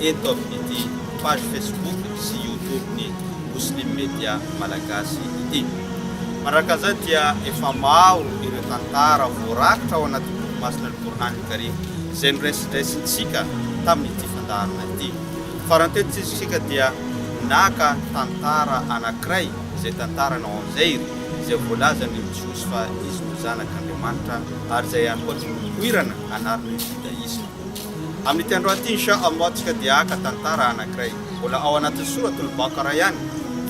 eto amin'ity page Facebook sy YouTube-ny Muslim Media Malagasy ity. Manaraka an'izay dia efa maro ireo tantara voarakitra ao anatin'ny boky masina Ny Kor'any ny Karim izay noraisindraisintsika tamin'ity fandaharana ity. Farany teto tsy isika dia naka tantara anankiray izay tantarana ao amin'ny Zair izay voalazan'ny Jiosy fa izy no Zanak'Andriamanitra ary izay ihany koa no nipoirana anaran'ny Judaisme. Amin'ity androany ity, Insha Allah, tsika dia haka tantara anankiray mbola ao anatin'ny Sourate Al-Baqarah ihany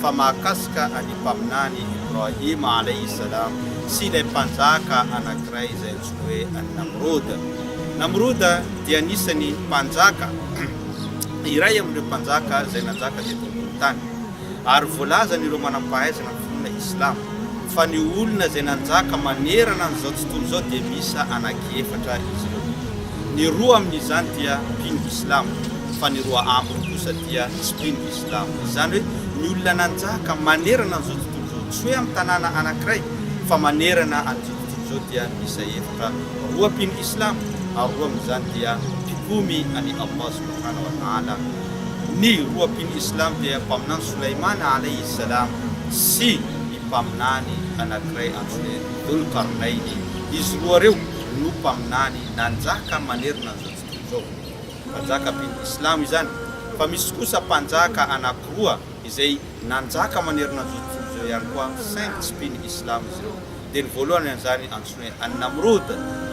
fa mahakasika an'i Mpaminany Ibrahim Alayhi Salam sy ilay mpanjaka anankiray izay antsoina hoe An-Namrud. Namrud dia anisan'ny mpanjaka iray amin'ireo mpanjaka izay nanjaka teto ambonin'ny tany. ary voalazan' ireo manam-pahaizana ny finoana islamo fa ny olona izay nanjaka manerana an' izao tontolo izao dia miisa anaky efatra izy ireo, ny roa amin' izany dia mpino islamo fa ny roa ambiny kosa dia tsy mpino islamo, izany hoe ny olona nanjaka manerana an' izao tontolo izao, tsy hoe amin' tanàna anakiray fa manerana an' izao tontolo izao dia miisa efatra, roa mpino islamo ary roa amin' izany dia mpikomy an' i Allah subhanahu wa ta'ala. Ny roa mpino islamo dia Mpaminany Solaimana alayhi salam sy ny Mpaminany anankiray antsoina hoe Dhul Qarnaini. Izy roa ireo no Mpaminany nanjaka manerana an'izao tontolo izao. Mpanjaka mpino islamo izany. Fa misy kosa mpanjaka anankiroa izay nanjaka manerana an'izao tontolo izao ihany koa saingy tsy mpino islamo izy ireo. Dia ny voalohany amin'izany antsoina hoe An-Namrud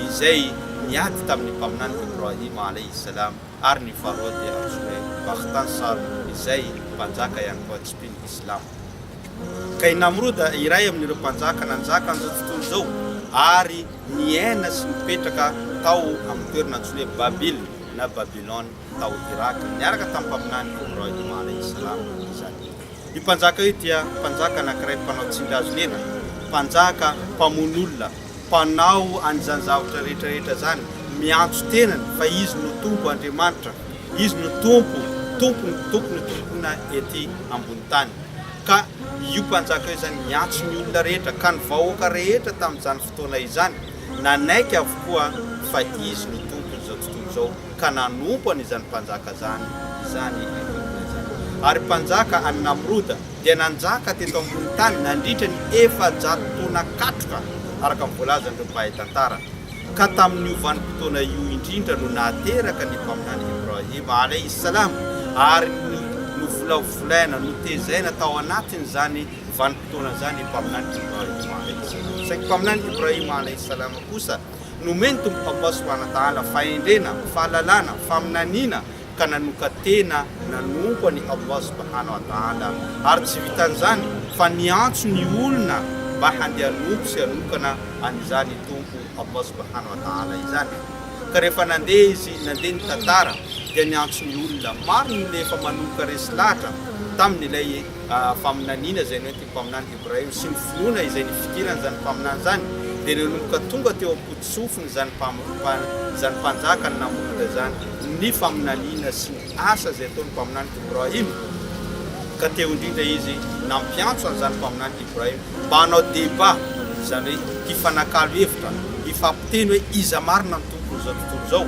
izay niady tamin'ny Mpaminany Ibrahim alayhi salam. ary ny faharoa dia antsoinay Bakhtan Sar izay mpanjaka ihany koa tsipin'ny Islam. Kay Namrud iray amin'ireo mpanjaka nanjaka an'izao tontolo izao ary niaina sy nipetraka tao amin'ny toerana antsoina hoe Babil na Babylone tao Irak niaraka tamin'ny mpaminany Ibrahim alayhi salam izany. Io mpanjaka io dia mpanjaka anankiray mpanao tsingazonena, mpanjaka mpamono olona, mpanao an'izany zavatra rehetra rehetra izany, miantso tenany fa izy no Tompo Andriamanitra, izy no Tompo, Tompon'ny Tompon'ny tompona ety ambony tany. Ka io mpanjaka io izany niantso ny olona rehetra, ka ny vahoaka rehetra tamin'izany fotoana izany nanaiky avokoa fa izy no Tompon'izao tontolo izao. ka nanompo an' izany mpanjaka izany izany i Nimroda izany. Ary mpanjaka an' i Namroda dia nanjaka teto ambony tany nandritra ny efajato taona katroka, araka ny voalazan' ireo mpahay tantara, ka tamin' io vanim-potoana io indrindra no nahateraka ny Mpaminany Ibrahim alaihi s-salam ary novolavolaina, notezaina tao anatin' izany vanim-potoana izany i Mpaminany Ibrahim alaihi s-salam. Saingy Mpaminany Ibrahim alaihi s-salam kosa. Nomen'ny Tompo fampahasoana adaala, fahendrena, fahalalana, faminaniana ka nanoka-tena nanompo an'i Allah Subhanahu wa Ta'ala. Ary tsy vitan'izany fa niantso ny olona mba handeha hanompo sy hanokana an'izany Tompo Allah Subhanahu wa Ta'ala izany. Ka rehefa nandeha izy, nandeha ny tantara, dia niantso ny olona. Maro ny olona efa manoka resy lahatra tamin'ilay faminaniana izay nentiny. Mpaminany hebreo sy ny finoana izay nifidiran' izany mpaminany izany dia nanomboka tonga teo am-potosofin'ny izany izany mpanjaka ny namorona izany ny faminaniana sy ny asa izay ataony mpaminany Ibrahim ka teo indrindra izy nampiantso an' izany mpaminany Ibrahim mba hanao debat izany hoe hifanakalo hevitra hifampiteny hoe iza marina ny tompon' izao tontolo izao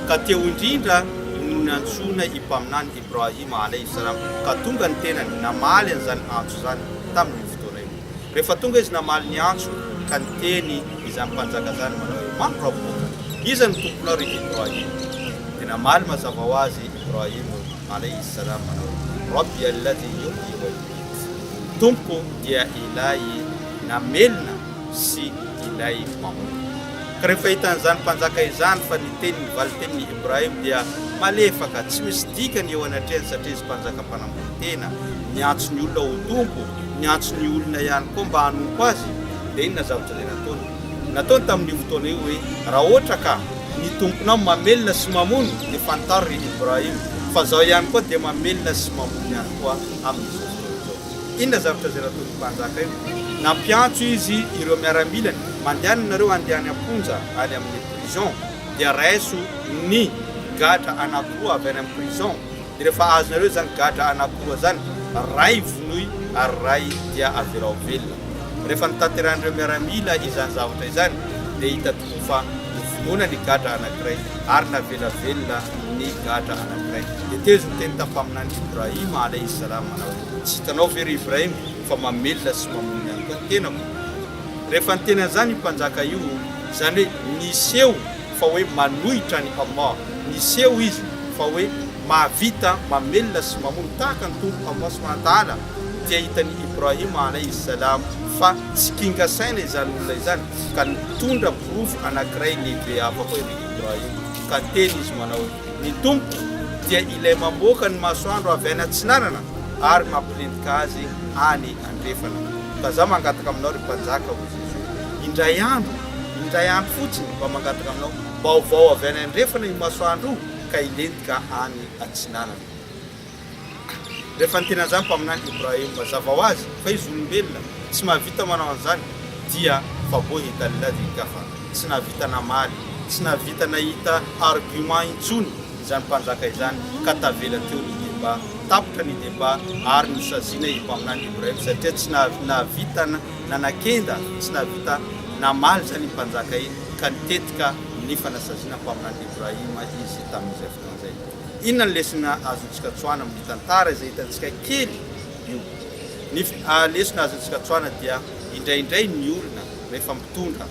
ka teo indrindra no niantsoana i mpaminany Ibrahim alaihi salam, ka tonga ny tenany namaly an'izany antso izany tamin'iny fotoana iny. Rehefa tonga izy namaly ny antso, ka niteny izany mpanjaka izany manao hoe, Man Rabbuka? Iza no Tomponao ry Ibrahim? Dia namaly mazava ho azy Ibrahim alaihi salam manao hoe, Rabbi alladhi yuhyi wa yumiit, Tompoko dia Ilay namelona sy Ilay mamono. Ka rehefa hitan'izany mpanjaka izany fa ny teniny valin-tenin'i Ibrahim dia malefaka, tsy misy dikany eo anatrehany satria izy mpanjaka mpanambony tena, niantso ny olona ho tompo, niantso ny olona ihany koa mba hanompo azy, dia inona zavatra izay nataony? Nataony tamin'io fotoana io hoe, Raha ohatra ka ny Tomponao mamelona sy mamono dia fantaro ry Ibrahim fa zaho ihany koa dia mamelona sy mamono ihany koa amin'izao fotoana izao. Inona zavatra izay nataon'ny mpanjaka io? Nampiantso izy ireo miaramilany, Mandehana ianareo handehany am-ponja any amin'ny prison, dia raiso ny gadra anankiroa avy any amin'ny prison, dia rehefa azonareo izany gadra anankiroa izany, ray vonoy ary ray dia avelao velona. Rehefa notanterahin'ireo miaramila izany zavatra izany, dia hita ho fa novonoina ny gadra anankiray ary navela velona ny gadra anankiray. Tetezzo ny teny tam-paminany Ibrahim alayhi salam manao hoe, Tsy hitanao ve ry Ibrahim fa mamelona sy mamono ihany koa ny tenako? Rehefa niteny an'izany io mpanjaka io, izany hoe niseho fa hoe manohitra an'i Allah, niseho izy fa hoe mahavita mamelona sy mamono tahaka ny Tompo Allah subhanahu wa ta'ala, dia hitan'i Ibrahim alayhi salam fa tsy kinga saina izany olona izany. ka nitondra porofo anankiray lehibe hafa koa i Ry Ibrahim, ka teny izy manao hoe, Ny Tompoko dia Ilay mamoaka ny masoandro avy any atsinanana ary mampilentika azy any andrefana. Ka za mangataka aminao, ry Mpanjaka, hoy Jesoa, indray andro, indray andro fotsiny, mba mangataka aminao, mba hovao avy any andrefana io masoandro io, ka hilentika any atsinanana. Rehefa nitenazany mpaminany Ibrahim mazava ho azy fa izy olombelona tsy mahavita manao an'izany dia fa bohi talla dhi kafa, tsy nahavita namaly, tsy nahavita nahita argument intsony izany mpanjaka izany ka tavela teo ny debat, tapitra ny debat ary nosaziana i mpaminany Ibrahim satria tsy nahavita nanakenda, tsy nahavita namaly izany iny mpanjaka iny ka nitetika ny fanasaziana mpaminany Ibrahim izy tamin'izy fotoana izay. Inona ny lesona azontsika tsoahana amin'ny tantara izay hitantsika kely io? Ny lesona azontsika tsoahana dia indraindray ny olona rehefa mitondra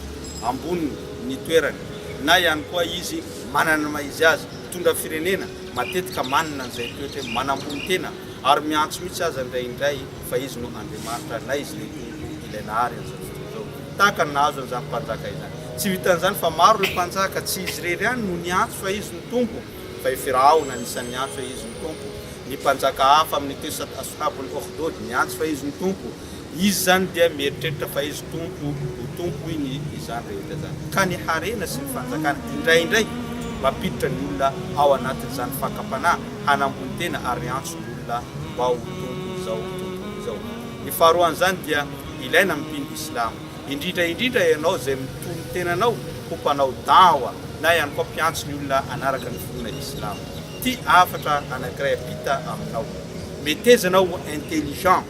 ambony ny toerany na ihany koa izy manana ny maha izy azy, mitondra firenena, matetika manana an'izay toetra hoe manambony tena ary miantso mihitsy aza indraindray fa izy no Andriamanitra na izy ilay Tompo ilay nahary an'izao tontolo izao, tahaka ny nahazo an'izany mpanjaka izany. Tsy vitan'izany fa maro ireo mpanjaka, tsy izy irery ihany no niantso fa izy no Tompo. fa i Firaona anisan'ny niantso hoe izy no Tompo, ny mpanjaka hafa amin'ny teo Aswhabul Ukhdud niantso fa izy no Tompo, izy izany dia mieritreritra fa izy Tompo ho Tompo hoy ny izany rehetra izany, ka ny harena sy ny fanjakana indraindray mampiditra ny olona ao anatin'izany fakam-panahy hanambony tena ary miantso ny olona mba ho Tompo izao, Tompo izao. Ny faharoan'izany dia ilaina amin'ny mpino Islamo. Indrindra indrindra ianao izay mitohy ny tenanao ho mpanao Da'wa na ihany koa mpiantso ny olona hanaraka ny finoana Islamo. Ity hafatra anankiray ampita aminao. Meteza anao ho intelligent,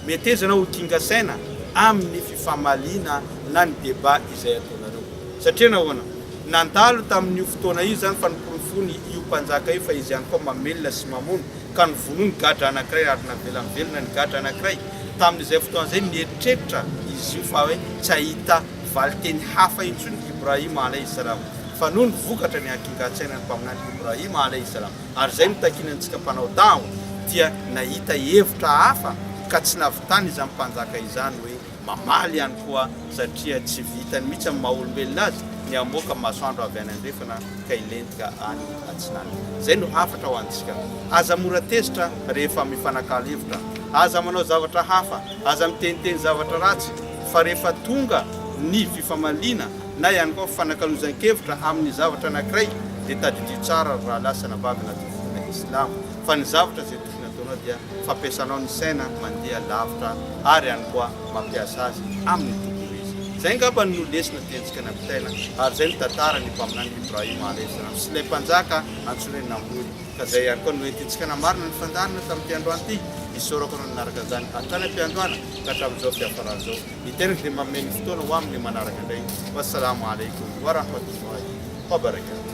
meteza anao ho ginga saina amin ny fifamaliana na ny débat izay ataonareo. Satria nahoana? Nandalo tamin io fotoana io izany fa noporofoin io mpanjaka io fa izy ihany koa mamelona sy mamono ka novonoiny gadra anankiray ary navela mivelona ny gadra anankiray. Tamin'izay fotoana izay, nieritreritra izy io fa hoe tsy hahita valin-teny hafa intsony Ibrahim alaih salam, fa noho ny vokatra ny hakingan-tsainan'ny Mpaminany Ibrahim alaih salam, ary izay no takiana antsika mpanao da'wa, dia nahita hevitra hafa ka tsy nahavitany izany Mpanjaka izany hoe mamaly ihany koa, satria tsy vitany mihitsy amin'ny maha olombelona azy ny hamoaka masoandro avy any andrefana ka hilentika any atsinanana. Izay no hafatra ho antsika. Aza mora tezitra rehefa mifanakalo hevitra. Aza manao zavatra hafa, aza miteniteny zavatra ratsy, fa rehefa tonga ny fifamaliana na ihany koa fifanakalozan-kevitra amin'ny zavatra anankiray dia tadidio tsara ry rahalahy sy anabavy anaty fivoriana islamo fa ny zavatra izay tokony hataonao dia fampiasanao ny saina mandeha lavitra ary ihany koa mampiasa azy amin'ny tokony ho izy. Izay angamba no lesona tiantsika nampitaina ary izay no tantaran'ny Mpaminany Ibrahim alaih salam sy ilay Mpanjaka antsoina hoe Namroud. Ka izay ihany koa no entintsika namarana ny fandaharana tamin'ity androany ity. Isaorako anao nanaraka izany hatrany am-piandohana ka hatramin'izao fiafarany izao. Ny tenako dia manome ny fotoana ho amin'ny manaraka indray. Wassalaamu Alaikum wa rahmatullahi wa barakatuh.